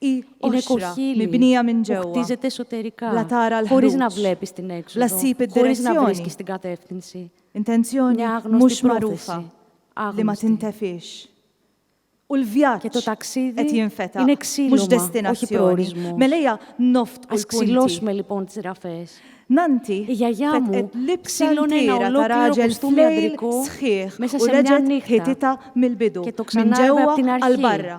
Hi qoxra, mibnija minn ġewwa, bla tara l-ħruġ, bla ssib id-direzzjoni, intenzjoni mhux magħrufa li ma tintefiex. U l-vjaġġ qed jinfetaħ, mhux destinazzjoni. Mela ejja noftqu l-punti. Nanti fetqet l-ibsa l-kiera ta' raġel f'lejl sħiħ u reġgħet ħititha mill-bidu, minn ġewwa għal barra.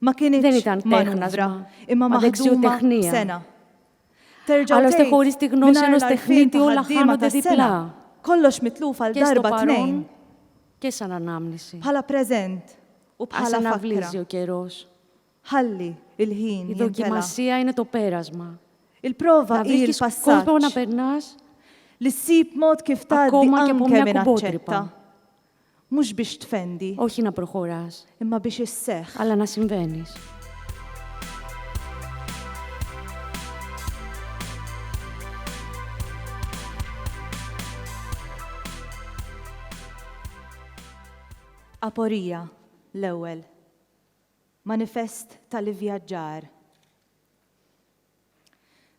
Ma kienitx manuvra, imma maħduma sena. Terġa' tgħid mingħajr l-għarfien ta' ħaddiema tas-sena. Kollox mitluf għal darba tnejn. Bħala preżent u bħala fakkra. Ħalli l-ħin jintela'. Il-prova hi l-passaġġ. Li ssib mod kif tgħaddi anke minn aċċetta. Mhux biex tfendi. O xina procuras. Imma biex isseħħ. Alla nas invenis. Aporia, l-ewwel. Manifest tal-ivvjaġġar.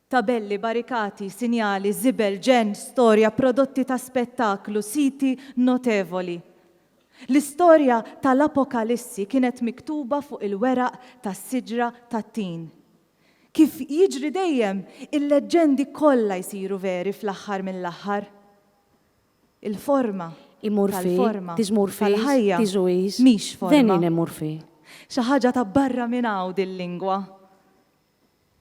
Tabelli, barikati, sinjali, żibel, ġenn, storja, prodotti ta' spettaklu, siti notevoli. L-istorja tal-Apokalissi kienet miktuba fuq il-weraq tas-siġra tat-tin. Kif jiġri dejjem, il-leġġendi kollha jsiru veri fl-aħħar mill-aħħar. Il-forma tal-forma tal-ħajja mhix forma. Xi ħaġa ta' barra minn hawn din lingwa.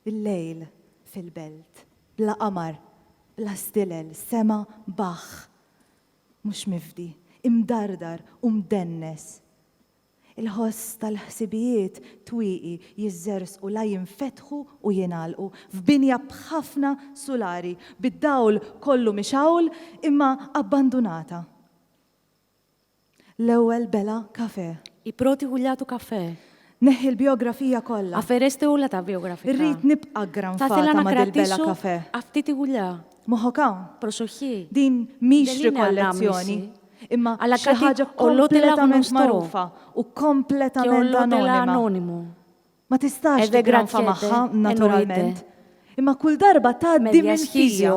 Il-lejl fil-belt, bla qamar, bla stilel, sema baħħ, mhux mifdi, imdardar u mdennes. Il-ħoss tal-ħsibijiet twieqi jiżżerżqu la jinfetħu u jingħalqu f'binja b'ħafna sulari, bid-dawl kollu mixgħul imma abbandunata. L-ewwel bela' kafè. I proti hulja tu kafè. Neħħi l-bijografija kollha. A fereste hulja ta' bijografika. Irrid nibqa' granfata ma' dil-bela' kafè. A ftiti hulja. Moħħok hawn. Prosoxxi. Din mhix rikollezzjoni, imma xi ħaġa kompletament magħrufa u kompletament anonima. Ma tistax tigranfa magħha, naturalment, imma kull darba tgħaddi minn ħtija.